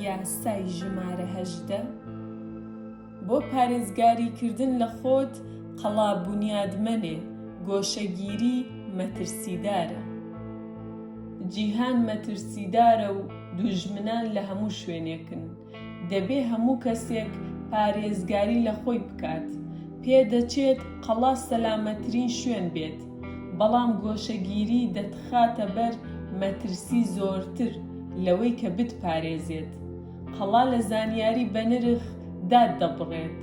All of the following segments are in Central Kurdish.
یاسای ژمارە هەژدە، بۆ پارێزگاریکردن لە خۆت قەڵا بونیادمەنێ گۆشەگیری مەترسیدارە. جیهان مەترسیدارە و دوژمنان لە هەموو شوێنێکن. دەبێ هەموو کەسێک پارێزگاری لە خۆی بکات، پێدەچێت قەڵا سەلامەتترین شوێن بێت، بەڵام گۆشەگیری دەتخاتە بەر مەترسی زۆرتر لەوەی کە بتپارێزێت. قەڵا لە زانیاری بەنرخ داتدەبڕێت،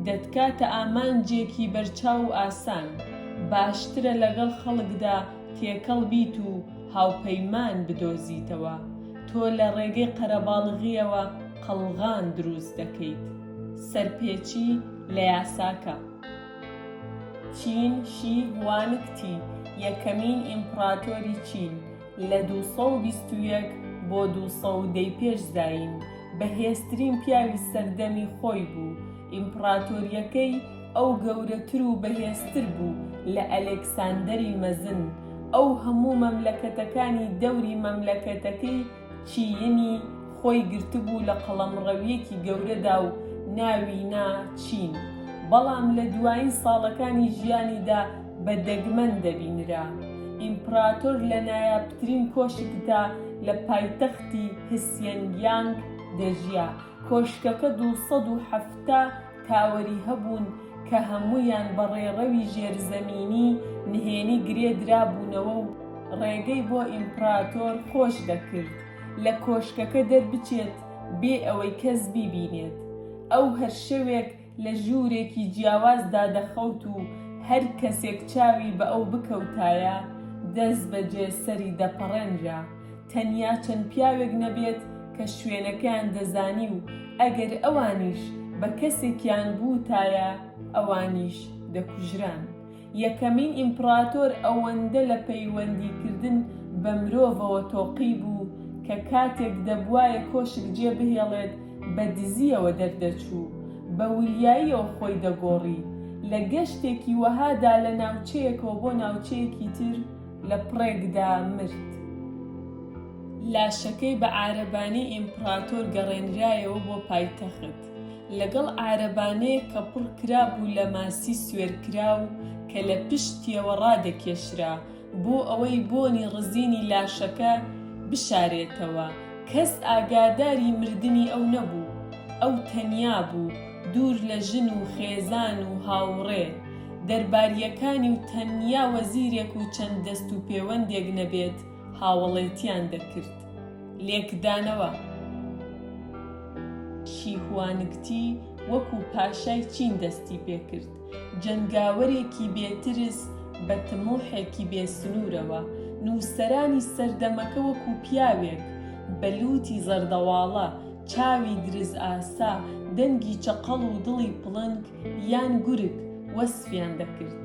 دەتکاتە ئامانجێکی بەرچاو و ئاسان، باشترە لەگەڵ خەڵکدا تێکەڵ بیت و هاوپەیمان بدۆزیتەوە، تۆ لە ڕێگەی قەرەباڵغییەوە قەڵغان دروست دەکەیت. سەرپێچی لە یاساکە. چین شی هوانگ تی، یەکەمین ئیمپڕاتۆری چین، لە دوو سەد و بیست و یەک بۆ دوو سەد و دە پێش زایین، بەهێزترین پیاوی سەردەمی خۆی بوو، ئیمپڕاتۆرییەکەی، ئەو گەورەتر و بەهێزتر بوو لە ئەلێکساندەری مەزن، ئەو هەموو مەملەکەتەکانی دەوری مەملەکەتەکەی چیینی خۆی گرتبوو لە قەڵەمڕەوییەکی گەورەدا و ناوی نا چین، بەڵام لە دوایین ساڵەکانی ژیانیدا بە دەگمەن دەبینرا. ئیمپڕاتۆر لە نایابترین کۆشکدا لە پایتەختی هسیەنگیانگ دەژیا، کۆشکەکە دوو سەد و حەفتا تاوەری هەبوون کە هەموویان بە ڕێڕەوی ژێرزەمینی نهێنی گرێ درابوونەوە و ڕێگەی بۆ ئیمپڕاتۆر خۆش دەکرد لە کۆشکەکە دەربچێت بێ ئەوەی کەس بیبینێت. ئەو هەر شەوێک لە ژوورێکی جیاوازدا دەخەوت و هەر کەسێک چاوی بە ئەو بکەوتایە، دەستبەجێ سەری دەپەڕێنرا. تەنیا چەند پیاوێک نەبێت کە شوێنەکەیان دەزانی و ئەگەر ئەوانیش بە کەسێکیان بووتایە ئەوانیش دەکوژران. یەکەمین ئیمپڕاتۆر ئەوەندە لە پەیوەندیکردن بە مرۆڤەوە تۆقی بوو کە کاتێک دەبوایە کۆشک جێبهێڵێت بە دزییەوە دەردەچوو، بە وریاییەوە خۆی دەگۆڕی. لە گەشتێکی وەهادا لە ناوچەیەکەوە بۆ ناوچەیەکی تر، لە پڕێکدا مرد. لاشەکەی بە عارەبانی ئیمپڕاتۆر گەڕێنرایەوە بۆ پایتەخت، لەگەڵ عارەبانەیەک کە پڕ کرابوو لە ماسی سوێرکراو کە لە پشتیەوە ڕادەکێشرا، بۆ ئەوەی بۆنی ڕزینی لاشەکە بشارێتەوە. کەس ئاگاداری مردنی ئەو نەبوو. ئەو تەنیا بوو. دوور لە ژن و خێزان و هاووڕێ دەربارییەکانی و تەنیا وەزیرێک و چەند دەست و پێوەندێک نەبێت هاوەڵێتیان دەکرد. لێکدانەوە، شی هوانگتی وەکوو پاشای چین دەستی پێ کرد. جەنگاوەرێکی بێ ترس بە تموحێکی بێ سنوورەوە، نووسەرانی سەردەمەکە وەکوو پیاوێک بە لووتی زەردەواڵە، چاوی درزئاسا، دەنگی چەقەڵ و دڵی پڵنگ یان گورگ وەسفیان دەکرد.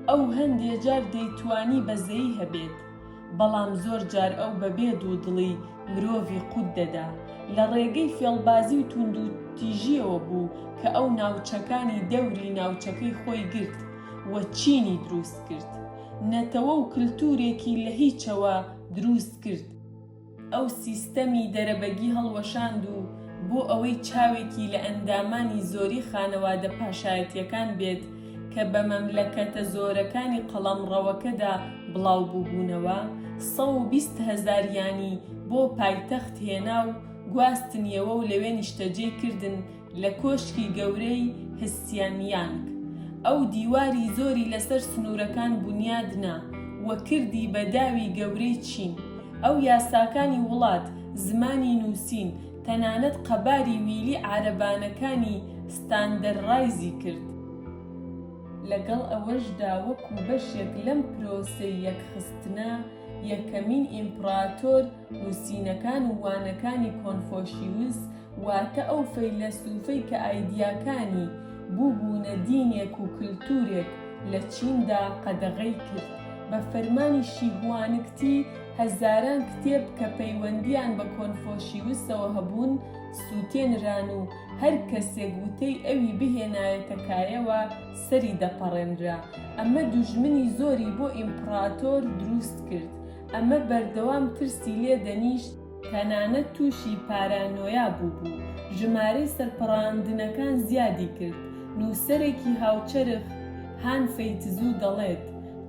ئەو هەندێ جار دەیتوانی بەزەیی هەبێت. بەڵام زۆر جار ئەو بە بێ دوو دڵی مرۆڤی قوت دەدا. لە ڕێگەی فێڵبازی و توندو تیژیەوە بوو کە ئەو ناوچەکانی دەوری ناوچەکەی خۆی گرت و چینی دروست کرد. نەتەوە و کلتورێکی لە هیچەوە دروست کرد. ئەو سیستەمی دەرەبەگی هەڵوەشاند و بۆ ئەوەی چاوێکی لە ئەندامانی زۆری خانەوادە پاشایەتیەکان بێت کە بە مەملەکەتە زۆرەکانی قەڵەمڕەوەکەدا بڵاوبووبوونەوە، سەد و بیست هەزاریانی بۆ پایتەخت هێنا و گواستنیەوە و لەوێ نیشتەجێی کردن، لە کۆشکی گەورەی هسیانیانگ، ئەو دیواری زۆری لەسەر سنوورەکان بونیاد نا و کردی بە داوی گەورەی چین. ئەو یاساکانی وڵات، زمانی نووسین، تەنانەت قەباری ویلی عارەبانەکانی ستاندەررایزی کرد. لەگەڵ ئەوەشدا وەکوو بەشێک لەم پرۆسەی یەکخستنە، یەکەمین ئیمپڕاتۆر نووسینەکان و وانەکانی کۆنفۆشیوس، واتە ئەو فەیلەسوفەی کە ئایدیاکانی بووبوونە دینێک و کلتوورێک لە چیندا قەدەغەی کرد. بە فەرمانی شیهوانگتی هەزاران کتێب کە پەیوەندییان بە کۆنفۆشیوسەوە هەبوون سووتێنران و هەر کەسێک وتەی ئەوی بهێنایەتە کایەوە سەری دەپەڕێنرا. ئەمە دوژمنی زۆری بۆ ئیمپڕاتۆر درووست کرد. ئەمە بەردەوام ترسی لێ دەنیشت. تەنانەت تووشی پارانۆیا بووبوو، ژمارەی سەرپەڕاندنەکان زیادی کرد. نووسەرێکی هاوچەرخ، هان فەیتزوو دەڵێت،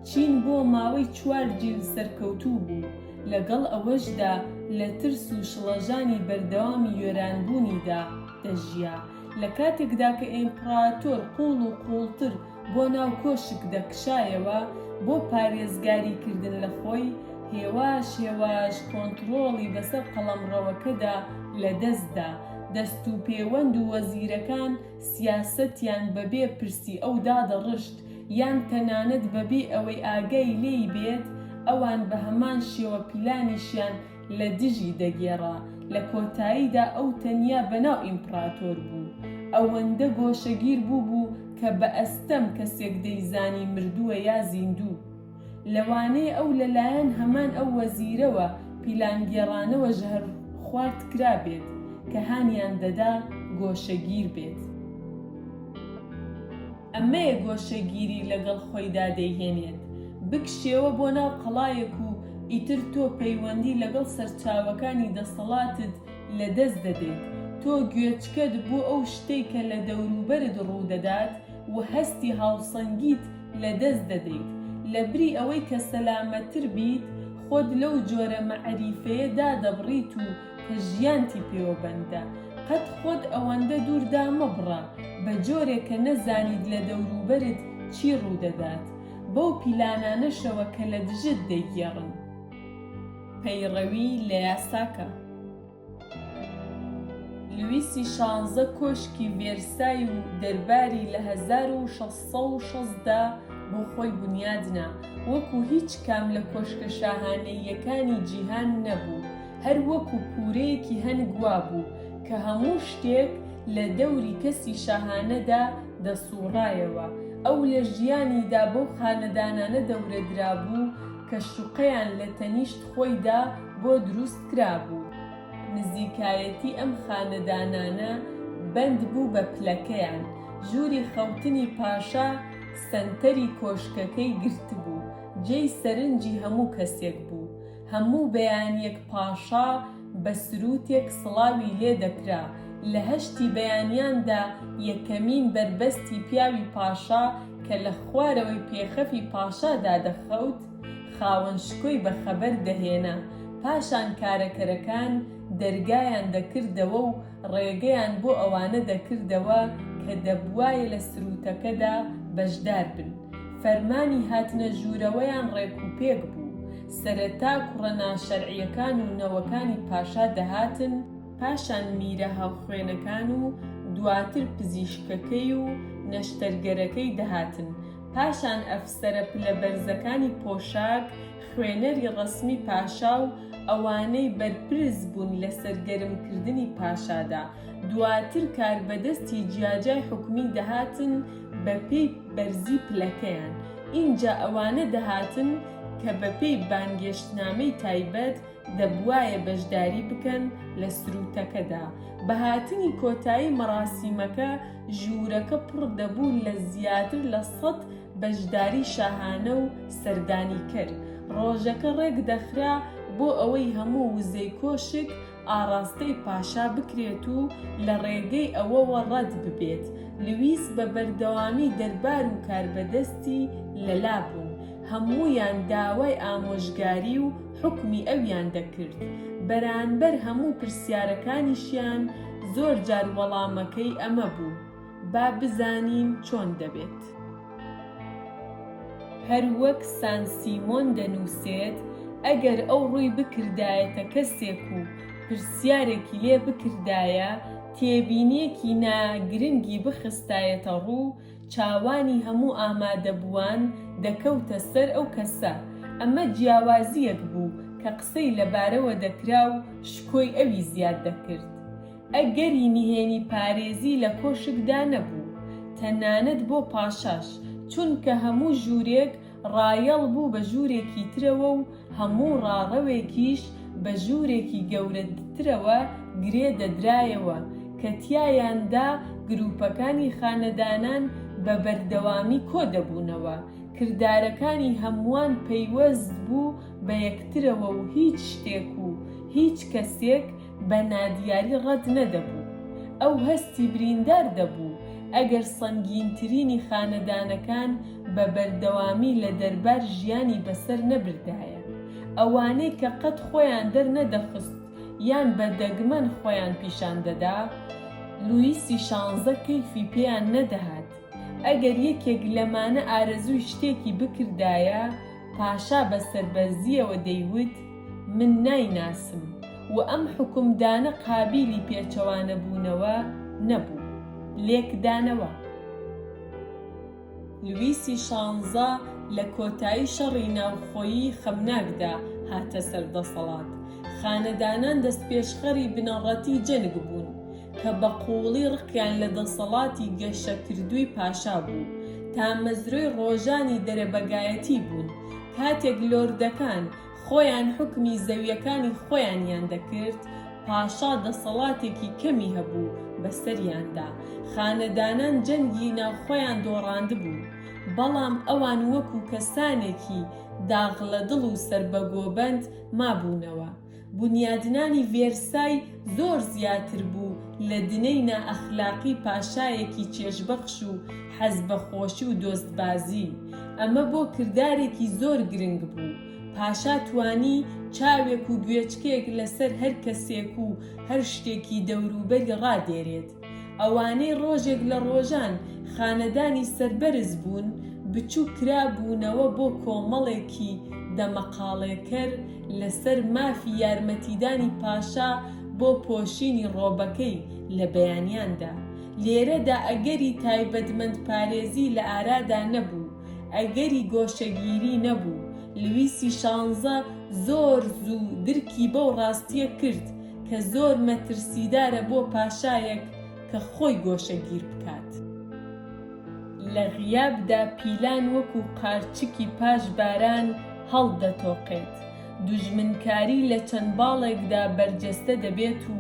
چین بۆ ماوەی چوار جیل سەرکەوتوو بوو، لەگەڵ ئەوەشدا لە ترس و شڵەژانی بەردەوامی وێرانبوونیدا دەژیا، لە کاتێکدا کە ئیمپڕاتۆر قووڵ و قووڵتر بۆ ناو کۆشک دەکشایەوە بۆ پارێزگاری کردن لە خۆی، هێواش هێواش کۆنتڕۆڵی بەسەر قەڵەمڕەوەکەدا لە دەست دا، دەست و پێوەند و وەزیرەکان سیاسەتیان بە بێ پرسی ئەو دادەڕشت، یان تەنانەت بە بێ ئەوەی ئاگای لێی بێت ئەوان بە هەمان شێوە پیلانیشیان لە دژی دەگێڕا، لە کۆتاییدا ئەو تەنیا بەناو ئیمپڕاتۆر بوو، ئەوەندە گۆشەگیر بووبوو کە بە ئەستەم کەسێک دەیزانی مردووە یا زیندوو. لەوانەیە ئەو لەلایەن هەمان ئەو وەزیرەوە پیلانگێڕانەوە ژەهرخوارد کرابێت کە هانیان دەدا گۆشەگیر بێت. ئەمەیە گۆشەگیری لەگەڵ خۆیدا دەیهێنێت بکشێوە بۆ ناو قەڵایەک و ئیتر تۆ پەیوەندی لەگەڵ سەرچاوەکانی دەسەڵاتت لەدەست دەدەیت، تۆ گوێچکەت بۆ ئەو شتەی کە لە دەوروبەرت ڕوودەدات و هەستی هاوسەنگیت لەدەست دەدەیت، لەبری ئەوەی کە سەلامەتتر بیت خۆت لەو جۆرە مەعریفەیە دادەبڕیت و کە ژیانتی پێوە بەندە قەت خۆت ئەوەندە دووردا مەبڕە بە جۆرێک کە نەزانیت لە دەوروبەرت چی ڕوودەدات بەو پیلانانەشەوە کە لە دژت دەیگێڕن پەیڕەوی لە یاسا کە. لویسی شانزە کۆشکی ڤێرسای و دەرباری لە هەزار و شەش سەد و شەست دا بۆ خۆی بونیاد نا وەکو هیچ کام لە کۆشکە شاهانەییەکانی جیهان نەبوو هەر وەکو پورەیەکی هەنگ وابوو کە هەموو شتێک لە دەوری کەسی شاهانەدا دەسووڕایەوە، ئەو لە ژیانیدا بەو خانەدانانە دەورەدرابوو کە شوقەیان لە تەنیشت خۆیدا بۆ دروست کرابوو. نزیکایەتی ئەم خانەدانانە بەند بوو بە پلەکەیان، ژووری خەوتنی پاشا سەنتەری کۆشکەکەی گرتبوو، جێی سەرنجی هەموو کەسێک بوو. هەموو بەیانیەک پاشا بە سرووتێک سڵاوی لێ دەکرا، لە هەشتی بەیانیاندا یەکەمین بەربەستی پیاوی پاشا کە لە خوارەوەی پێخەفی پاشا دادەخەوت، خاوەن شکۆی بە خەبەر دەهێنا، پاشان کارەکەرەکان دەرگایان دەکردەوە و ڕێگەیان بۆ ئەوانە دەکردەوە کە دەبوایە لە سرووتەکەدا بەشدار بن، فەرمانی هاتنە ژوورەوەیان ڕێکوپێک بوو. سەرەتا کوڕە ناشەرعیەکان و نەوەکانی پاشا دەهاتن، پاشان میرە هاوخوێنەکان و دواتر پزیشکەکەی و نەشتەرگەرەکەی دەهاتن، پاشان ئەفسەرە پلە بەرزەکانی پۆشاک، خوێنەری ڕەسمی پاشا و ئەوانەی بەرپرس بوون لەسەر گەرمکردنی پاشادا، دواتر کاربەدەستی جیاجای حکومی دەهاتن بە پێی بەرزی پلەکەیان، ئینجا ئەوانە دەهاتن کە بە پێی بانگێشتنامەی تایبەت دەبوایە بەشداری بکەن لە سروتەکەدا، بە هاتنی کۆتایی مەراسیمەکە ژوورەکە پڕ دەبوو لە زیاتر لە سەد بەشداری شاهانە و سەردانیکەر، ڕۆژەکە ڕێکدەخرا بۆ ئەوەی هەموو وزەی کۆشک ئاڕاستەی پاشا بکرێت و لە ڕێگەی ئەوەوە ڕەت ببێت، لویس بە بەردەوامی دەربار و کاربەدەستی لە لا بوون، هەموویان داوای ئامۆژگاری و حوکمی ئەویان دەکرد، بەرانبەر هەموو پرسیارەکانیشیان زۆر جار وەڵامەکەی ئەمە بوو. با بزانین چۆن دەبێت. هەر وەک سان سیمۆن دەنووسێت، ئەگەر ئەو ڕووی بکردایەتە کەسێک و پرسیارێکی لێ بکردایە، تێبینییەکی نا گرنگی بخستایەتە ڕوو، چاوانی هەموو ئامادەبووان دەکەوتە سەر ئەو کەسە. ئەمە جیاوازییەک بوو کە قسەی لەبارەوە دەکرا و شکۆی ئەوی زیاد دەکرد. ئەگەری نهێنی پارێزی لە کۆشکدا نەبوو، تەنانەت بۆ پاشاش، چونکە هەموو ژوورێک ڕایەڵ بوو بە ژوورێکی ترەوە و هەموو ڕاڕەوێکیش بە ژوورێکی گەورەترەوە گرێ دەدرایەوە کە تیایاندا گرووپەکانی خانەدانان بە بەردەوامی کۆ دەبوونەوە. کردارەکانی هەمووان پەیوەست بوو بە یەکترەوە و هیچ شتێک و هیچ کەسێک بە نادیاری ڕەت نەدەبوو. ئەو هەستی بریندار دەبوو ئەگەر سەنگینترینی خانەدانەکان بە بەردەوامی لە دەربار ژیانی بەسەر نەبردایە. ئەوانەی کە قەت خۆیان دەرنەدەخست یان بە دەگمەن خۆیان پیشان دەدا، لویسی شانزە کەیفی پێیان نەدەهات. ئەگەر یەکێک لەمانە ئارەزووی شتێکی بکردایە، پاشا بە سەربەرزییەوە دەیوت، من نایناسم و ئەم حوکمدانە قابیلی پێچەوانەبوونەوە نەبوو. لێکدانەوە. لویسی شانزە لە کۆتایی شەڕی ناوخۆیی خەمناکدا هاتە سەر دەسەڵات. خانەدانان دەستپێشخەری بنەڕەتی جەنگ بوون. کە بە قووڵی ڕقیان لە دەسەڵاتی گەشەکردووی پاشا بوو، تامەزرۆی ڕۆژانی دەرەبەگایەتی بوون، کاتێک لۆردەکان خۆیان حوکمی زەوییەکانی خۆیانیان دەکرد، پاشا دەسەڵاتێکی کەمی هەبوو بەسەریاندا، خانەدانان جەنگی ناوخۆیان دۆڕاندبوو، بەڵام ئەوان وەکوو کەسانێکی داغ لە دڵ و سەربەگۆبەند مابوونەوە. بونیادنانی ڤێرسای زۆر زیاتر بوو لە دنەی نائەخلاقی پاشایەکی چێژبەخش و حەز بە خۆشی و دۆستبازی، ئەمە بۆ کردارێکی زۆر گرنگ بوو، پاشا توانی چاوێک و گوێچکێک لەسەر هەر کەسێک و هەر شتێکی دەوروبەری ڕادێرێت. ئەوانەی ڕۆژێک لە ڕۆژان خانەدانی سەربەرز بوون، بچووک کرابوونەوە بۆ کۆمەڵێکی دەمەقاڵێکەر لەسەر مافی یارمەتیدانی پاشا بۆ پۆشینی ڕۆبەکەی لە بەیانیاندا. لێرەدا ئەگەری تایبەتمەندپارێزی لە ئارادا نەبوو، ئەگەری گۆشەگیری نەبوو. لویسی شانزە زۆر زوو درکی بەو ڕاستییە کرد، کە زۆر مەترسیدارە بۆ پاشایەک کە خۆی گۆشەگیر بکات. لە غیابدا پیلان وەکو قارچکی پاش باران هەڵدەتۆقێت، دوژمنکاری لە چەند باڵێکدا بەرجەستە دەبێت و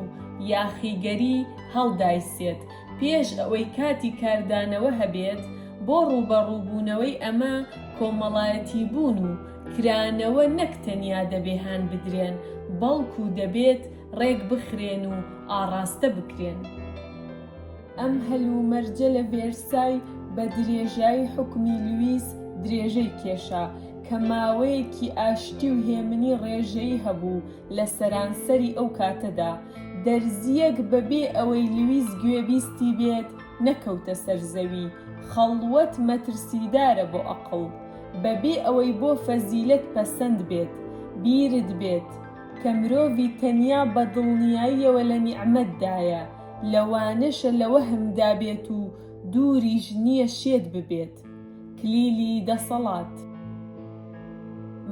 یاخیگەری هەڵدایسێت پێش ئەوەی کاتی کاردانەوە هەبێت، بۆ ڕووبەڕووبوونەوەی ئەمە کۆمەڵایەتیبوون و کرانەوە نەک تەنیا دەبێ هان بدرێن، بەڵکوو دەبێت ڕێک بخرێن و ئاڕاستە بکرێن. ئەم هەلومەرجە لە ڤێرسای بە درێژایی حوکمی لویس درێژەی کێشا، کە ماوەیەکی ئاشتی و هێمنی ڕێژەیی هەبوو لە سەرانسەری ئەو کاتەدا. دەرزییەک بە بێ ئەوەی لویس گوێبیستی بێت نەکەوتە سەر زەوی، خەڵوەت مەترسیدارە بۆ ئەقڵ. بەبێ ئەوەی بۆ فەزیلەت پەسەند بێت، بیرت بێت کە مرۆڤی تەنیا بە دڵنیاییەوە لە نیعمەتدایە، لەوانەشە لە وەهمدا بێت و دووریش نییە شێت ببێت. کلیلی دەسەڵات.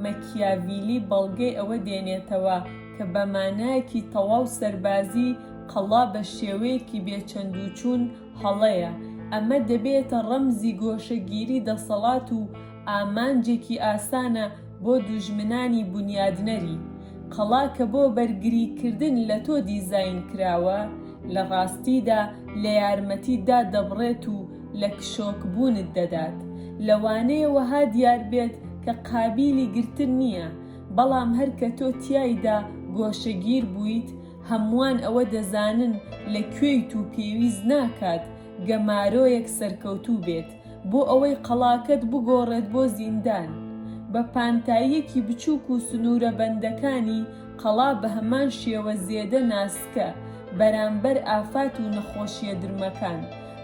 مەکیاڤیلی بەڵگەی ئەوە دێنێتەوە کە بە مانایەکی تەواو سەربازی، قەڵا بە شێوەیەکی بێ چەندوچوون، هەڵەیە، ئەمە دەبێتە ڕەمزی گۆشەگیری دەسەڵات و ئامانجێکی ئاسانە بۆ دوژمنانی بونیادنەری. قەڵا کە بۆ بەرگریکردن لە تۆ دیزاین کراوە، لە ڕاستیدا لە یارمەتیتدا دەبڕێت و لە کشۆکبوونت دەدات. لەوانەیە وەها دیار بێت کە قابیلی گرتن نییە، بەڵام هەر کە تۆ تیایدا گۆشەگیر بوویت، هەمووان ئەوە دەزانن لە کوێیت و پێویست ناکات گەمارۆیەک سەرکەوتوو بێت بۆ ئەوەی قەڵاکەت بگۆڕێت بۆ زیندان. بە پانتاییەکی بچووک و سنوورە بەندەکانی قەڵا بە هەمان شێوە زێدە ناسکە بەرامبەر ئافات و نەخۆشییە درمەکان.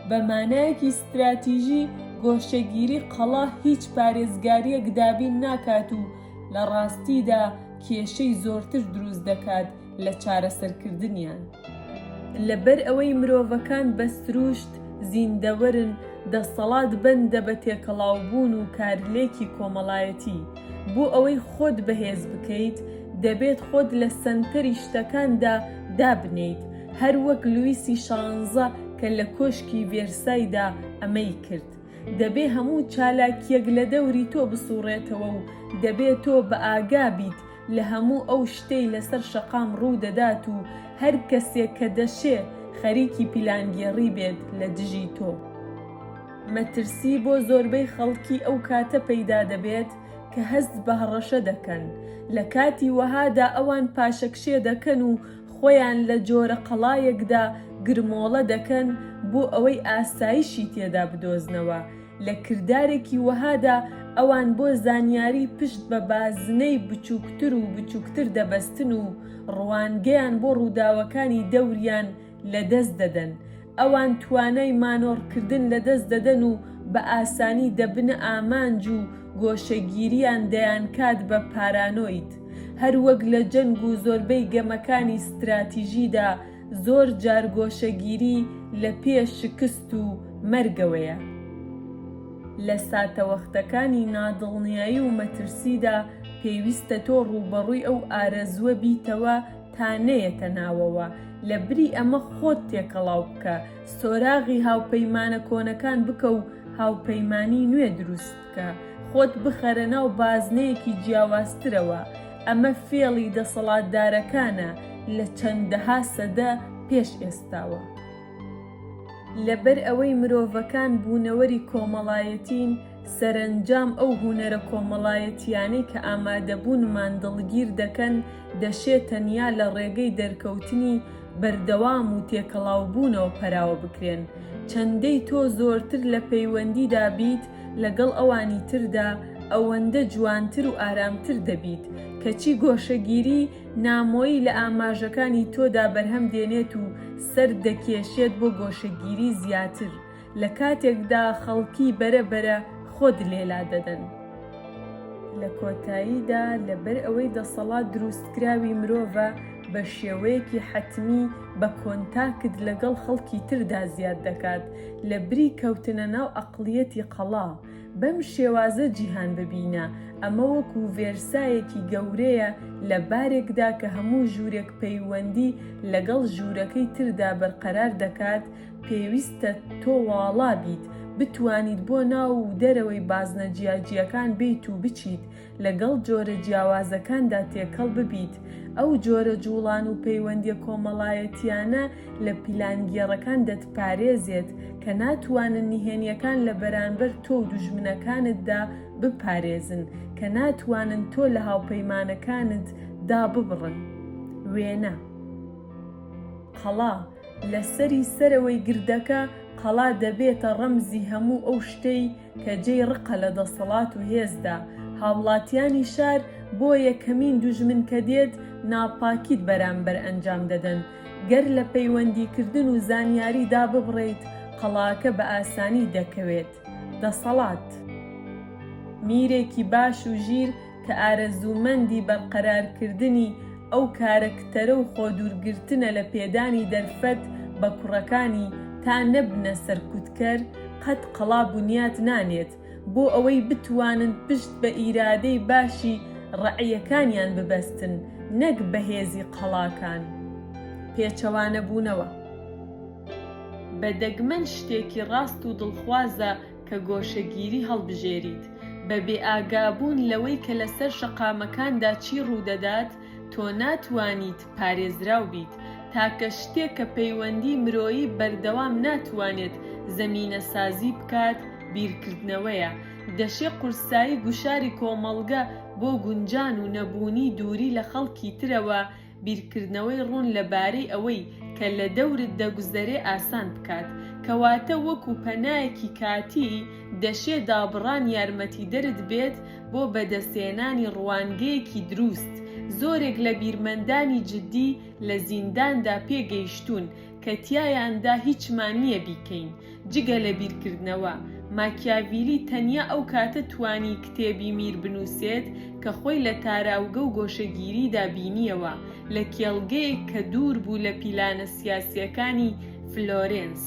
بە مانایەکی ستراتیژی گۆشەگیری قەڵا هیچ پارێزگارییەک دابین ناکات و لە ڕاستیدا کێشەی زۆرتر دروست دەکات لە چارەسەرکردنیان. لەبەر ئەوەی مرۆڤەکان بە سروشت زیندەوەرن، دەسەڵات بەندە بە تێکەڵاوبوون و کارلێکی کۆمەڵایەتی. بۆ ئەوەی خۆت بەهێز بکەیت، دەبێت خۆت لە سەنتەری شتەکاندا دابنێیت، هەر وەک لویسی شانزە کە لە کۆشکی ڤێرسایدا ئەمەی کرد. دەبێ هەموو چالاکییەک لە دەوری تۆ بسووڕێتەوە و دەبێ تۆ بەئاگا بیت لە هەموو ئەو شتەی لەسەر شەقام ڕوو دەدات و هەر کەسێک کە دەشێ خەریکی پیلانگێڕی بێت لە دژی تۆ. مەترسی بۆ زۆربەی خەڵکی ئەو کاتە پەیدا دەبێت کە هەست بە هەڕەشە دەکەن. لە کاتی وەهادا ئەوان پاشەکشێ دەکەن و خۆیان لە جۆرە قەڵایەکدا گرمۆڵە دەکەن بۆ ئەوەی ئاسایشی تێدا بدۆزنەوە. لە کردارێکی وەهادا ئەوان بۆ زانیاری پشت بە بازنەی بچووکتر و بچووکتر دەبەستن و ڕوانگەیان بۆ ڕووداوەکانی دەوریان لە دەست دەدەن. ئەوان توانای مانۆڕکردن لە دەست دەدەن و بە ئاسانی دەبنە ئامانج و گۆشەگیریان دەیانکات بە پارانۆید. هەروەک لە جەنگ و زۆربەی گەمەکانی ستراتیژیدا، زۆر جار گۆشەگیری لە پێ شکست و مەرگەوەیە. لە ساتەوەختەکانی نادڵنیایی و مەترسیدا پێویستە تۆ ڕووبەڕووی ئەو ئارەزووە بیتەوە تا نەیەتە ناوەوە، لەبری ئەمە خۆت تێکەڵاو بکە، سۆراغی هاوپەیمانە کۆنەکان بکە و هاوپەیمانی نوێ دروست. کە خۆت بخەرە ناو بازنەیەکی جیاوازترەوە، ئەمە فێڵی دەسەڵاتدارەکانە لە چەندەها سەدە پێش ئێستاوە. لەبەر ئەوەی مرۆڤەکان بوونەوەری کۆمەڵایەتین، سەرەنجام ئەو هونەرە کۆمەڵایەتییانەی کە ئامادەبوونمان دڵگیر دەکەن، دەشێ تەنیا لە ڕێگەی دەرکەوتنی بەردەوام و تێکەڵاوبوونەوە پەراوە بکرێن. چەندەی تۆ زۆرتر لە پەیوەندیدا بیت، لەگەڵ ئەوانی تردا ئەوەندە جوانتر و ئارامتر دەبیت، کەچی گۆشەگیری نامۆیی لە ئاماژەکانی تۆدا بەرهەم دێنێت و سەرت دەکێشێت بۆ گۆشەگیری زیاتر، لە کاتێکدا خەڵکی بەرە بەرە خۆت لێلا دەدەن. لە کۆتاییدا لەبەر ئەوەی دەسەڵات دروستکراوی مرۆڤە، بە شێوەیەکی حەتمی بە کۆنتاکت لەگەڵ خەڵکی تردا زیاد دەکات، لە بری کەوتنە ناو ئەقڵیەتی قەڵا، بەم شێوازە جیهان ببینە، ئەمە وەکو ڤێرسایەکی گەورەیە لە بارێکدا کە هەموو ژوورێک پەیوەندی لەگەڵ ژوورەکەی تردا بەرقەرار دەکات، پێویستە تۆ واڵا بیت، بتوانیت بۆ ناو و دەرەوەی بازنە جیاجیاکان بێیت و بچیت، لەگەڵ جۆرە جیاوازەکاندا تێکەڵ ببیت، ئەو جۆرە جووڵان و پەیوەندییە کۆمەڵایەتییانە لە پیلانگێڕەکان دەتپارێزێت کە ناتوانن نهێنییەکان لە بەرانبەر تۆ و دوژمنەکانتدا بپارێزن، کە ناتوانن تۆ لە هاوپەیمانەکانت داببڕن. وێنە. قەڵا، لە سەری سەرەوەی گردەکە، قەڵا دەبێتە ڕەمزی هەموو ئەو شتەی، کە جێی ڕقە لە دەسەڵات و هێزدا، هاوڵاتیانی شار بۆ یەکەمین دوژمن کە دێت ناپاکیت بەرامبەر ئەنجام دەدەن، گەر لە پەیوەندیکردن و زانیاری داببڕێیت قەڵاکە بە ئاسانی دەکەوێت. دەسەڵات. میرێکی باش و ژیر کە ئارەزوومەندی بەرقەرارکردنی ئەو کارەکتەرە و خۆدوورگرتنە لە پێدانی دەرفەت بە کوڕەکانی تا نەبنە سەرکوتکەر، قەت قەڵا بنیات نانێت، بۆ ئەوەی بتوانن پشت بە ئیرادەی باشی ڕەعیەکانیان ببەستن، نەک بە هێزی قەڵاکان پێچەوانەبوونەوە. بە دەگمەن شتێکی ڕاست و دڵخوازە، کە گۆشەگیری هەڵبژێریت بە بێئاگابوون لەوەی کە لەسەر شەقامەکاندا چی ڕوودەدات، تۆ ناتوانیت پارێزراو بیت، تاکە شتێک کە پەیوەندی مرۆیی بەردەوام ناتوانێت زەمینەسازی بکات بیرکردنەوەیە، دەشێ قورسایی گوشاری کۆمەڵگە بۆ گونجان و نەبوونی دووری لە خەڵکی ترەوە بیرکردنەوەی ڕوون لە بارەی ئەوەی کە لە دەورت دەگوزەرێ ئاسان بکات، کەواتە وەکو پەنایەکی کاتی دەشێ دابڕان یارمەتیدەرت بێت بۆ بەدەستهێنانی ڕوانگەیەکی دروست، زۆرێک لە بیرمەندانی جدی لە زینداندا پێگەیشتوون کە تیایاندا هیچمان نییە بیکەین جگە لە بیرکردنەوە، ماکیاڤیلی تەنیا ئەو کاتە توانی کتێبی میر بنووسێت کە خۆی لە تاراوگە و گۆشەگیریدا بینییەوە، لە کێڵگەیەک کە دوور بوو لە پیلانە سیاسییەکانی فلۆرێنس.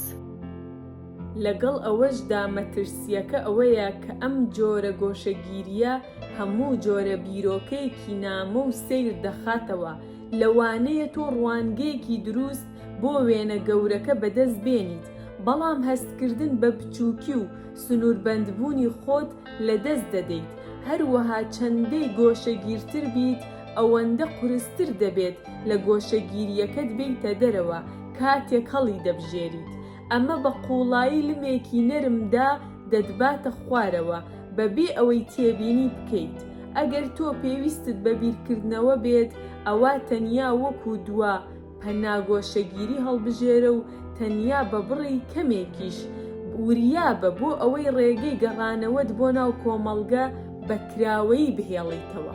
لەگەڵ ئەوەشدا مەترسییەکە ئەوەیە کە ئەم جۆرە گۆشەگیرییە هەموو جۆرە بیرۆکەیەکی نامۆ و سەیر دەخاتەوە، لەوانەیە تۆ ڕوانگەیەکی دروست بۆ وێنە گەورەکە بەدەست بێنیت، بەڵام هەستکردن بە بچووکی و سنووربەندبوونی خۆت لەدەست دەدەیت. هەروەها چەندەی گۆشەگیرتر بیت، ئەوەندە قورستر دەبێت لە گۆشەگیرییەکەت بێیتە دەرەوە کاتێک هەڵیدەبژێریت. ئەمە بە قووڵایی لمێکی نەرمدا دەتباتە خوارەوە بەبێ ئەوەی تێبینی بکەیت. ئەگەر تۆ پێویستت بە بیرکردنەوە بێت، ئەوا تەنیا وەکوو دوا پەنا گۆشەگیری هەڵبژێرە و تەنیا بە بڕی کەمێکیش وریا بە بۆ ئەوەی ڕێگەی گەڕانەوەت بۆ ناو کۆمەڵگە بە کراوەیی بهێڵیتەوە.